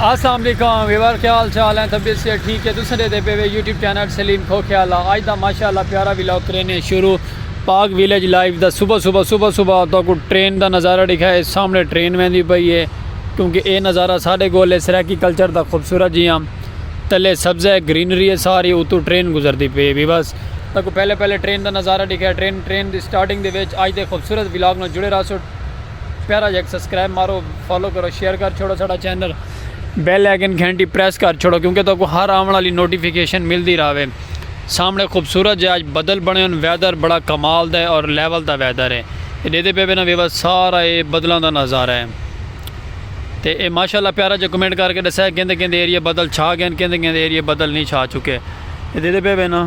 السلام علیکم ویور کیا حال چال ہیں طبیعت سے ٹھیک ہے دوسرے دے پہ یوٹیوب چینل سلیم کھو کیا لا آج دا ماشاءاللہ پیارا ویلاگ کرینے شروع پاک ویلیج لائیو دا صبح صبح صبح صبح تو کو ٹرین دا نظارہ دکھا ہے سامنے ٹرین میں دی پئی ہے کیونکہ اے نظارہ سارے گولے سرائیکی کلچر دا خوبصورت جی ہم تلے سبز ہے گرینری ہے ساری اتو ٹرین گزر دی پئی بھی بس تو کو پہلے پہلے ٹرین دا نظارہ دکھا ہے ٹرین ٹرین دی سٹارٹنگ دے ویچ آج دے خوبصورت ویلاگ نو جڑے رہا سو پیارا جا سبسکرائب مارو فالو کرو شیئر کر چھوڑو ساڑا چینل بیل آئیکن گھنٹی پریس کر چھوڑو کیونکہ تو کو ہر آون والی نوٹیفیکیشن ملدی راوے سامنے خوبصورت جے آج بدل بنے ان ویدر بڑا کمال دا ہے اور لیول دا ویدر ہے دے دے پے بنا ویوا سارا اے بدلاں دا نظارہ ہے تے اے ماشاءاللہ پیارا جا کمنٹ کر کے دسے کیندے کیندے ایریا بدل چھا گئے کیندے کیندے ایریا بدل نہیں چھا چکے دے دے پے بنا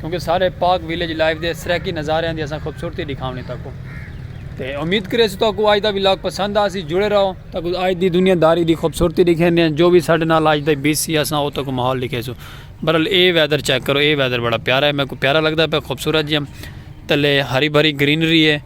کیونکہ سارے پاک ویلیج لائف دے سرائیکی نظاریاں دی اساں خوبصورتی ڈکھاونی تہاکوں تے امید کریسوں تہاکوں اج دا ولاگ پسند آسی جڑے رہو تہاکوں اج دی دنیا داری دی خوبصورتی ڈکھیندے ہیں جو وی ساڈے نال اج دا بی سی اساں او تہاکوں ماحول ڈکھیسوں برل اے ویدر چیک کرو اے ویدر بڑا پیارا ہے میکوں پیارا لگدا پیا خوبصورت جیاں تلے ہری بھری گرینری ہے۔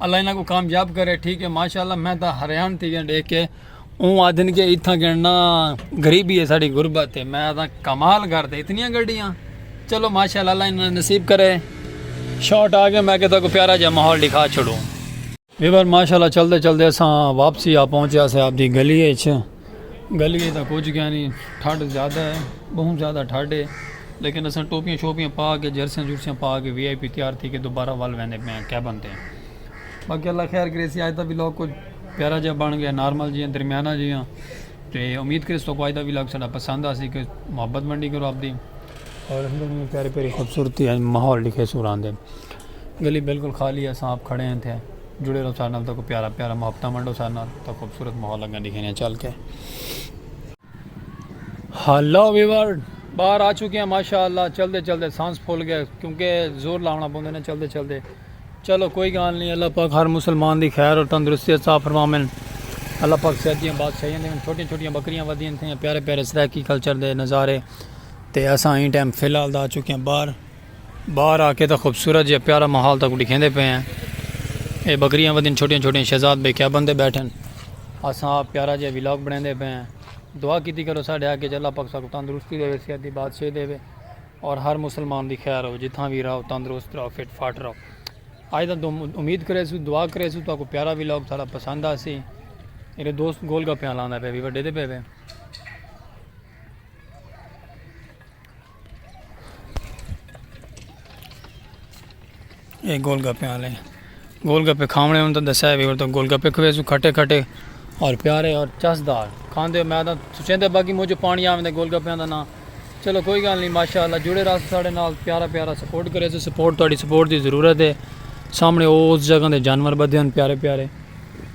اللہ انہاں کوں کامیاب کرے ٹھیک ہے ماشاءاللہ میں تاں حیران تھی گیا دیکھ کے اوں آدھن کے اتھاں گننا غریبی ہے ساڑی غربت ہے میں تاں کمال کر دے اتنیاں گڈیاں چلو ماشاءاللہ اللہ انہاں نصیب کرے شارٹ آ گیا میں کہتا کو پیارا جا ماحول دکھا چھوڑوں ویور ماشاءاللہ چلتے چلتے اساں واپسی آ پہنچے اسے آپ دی گلی اچ گلیے تاں کجھ کینی ٹھڈ زیادہ ہے بہوں زیادہ ٹھڈ ہے لیکن اساں ٹوپیاں شوپیاں پا کے جرسیاں جرسیاں پا کے وی آئی پی تیار تھی کے دوبارہ ول ویندے پئے آں کیبن تے باقی اللہ خیر کرے سی آج دا ولاگ کچھ پیارا جیہا بن گیا نارمل جیہاں درمیانہ جیہاں تے امید کرے سو کو آج دا ولاگ ساڈا پسند آ سی کہ محبت منڈی کرو آپ دی اور پیاری پیاری خوبصورتی ماحول لکھے سوران دے گلی بالکل خالی ہے اساں آپ کھڑے ہیں تھے جڑے رہو سارے نال تاکو پیارا پیارا محبتاں ونڈو سارے نال تا خوبصورت ماحول لگا دکھے ہیں چل کے ہلو ویور باہر آ چکے ہیں ماشاءاللہ چلتے چلتے سانس پھول گئے کیونکہ زور لاونا پوندے نے چلتے چلتے چلو کوئی گال نہیں اللہ پاک ہر مسلمان دی خیر اور تندرستی عطا فرمامن اللہ پاک صحت دیاں بات صحیح ہیں چھوٹی چھوٹی بکریاں ودیاں تھیں پیارے پیارے سرائیکی کلچر دے نظارے تے اساں این ٹائم فی الحال دا آ چکے ہیں باہر باہر آکے تاں خوبصورت جیہا پیارا ماحول تاکوں ڈکھیندے پئے ہیں۔ اے بکریاں ودین چھوٹیاں چھوٹیاں شہزاد بے کیبن تے بیٹھن۔ اساں آپ پیارا جیہا ولاگ بنڑیندے پئے ہیں۔ دعا کیتی کرو ساڈے حق اچ اللہ پاک ساکوں تندرستی ڈیوے صحت دی بادشاہی ڈیوے اور ہر مسلمان دی خیر ہووے جتھاں وی رہو تندرست رہو فٹ فاٹ رہو۔ آج دا امید کریسوں دعا کریسوں تاکوں پیارا ولاگ ساڈا پسند آسی۔ میرے دوست گول گپیاں لاندا پئے وی وڈے دے پئے وے۔ اے گول گپے والے گول گپے کھاونے ہوں تو دسیا بھی اور تو گول گپے کھوے سو کھٹے کھٹے اور پیارے اور چسدار کھاندے میں تو سوچیں دے باقی مجھے پانی آویں دے گول گپے دا نا چلو کوئی گل نہیں ماشاءاللہ جڑے راس ساڑے نال پیارا پیارا سپورٹ کرے سو سپورٹ تہاڈی سپورٹ دی ضرورت ہے سامنے او اس جگہ دے جانور بدے ہن پیارے پیارے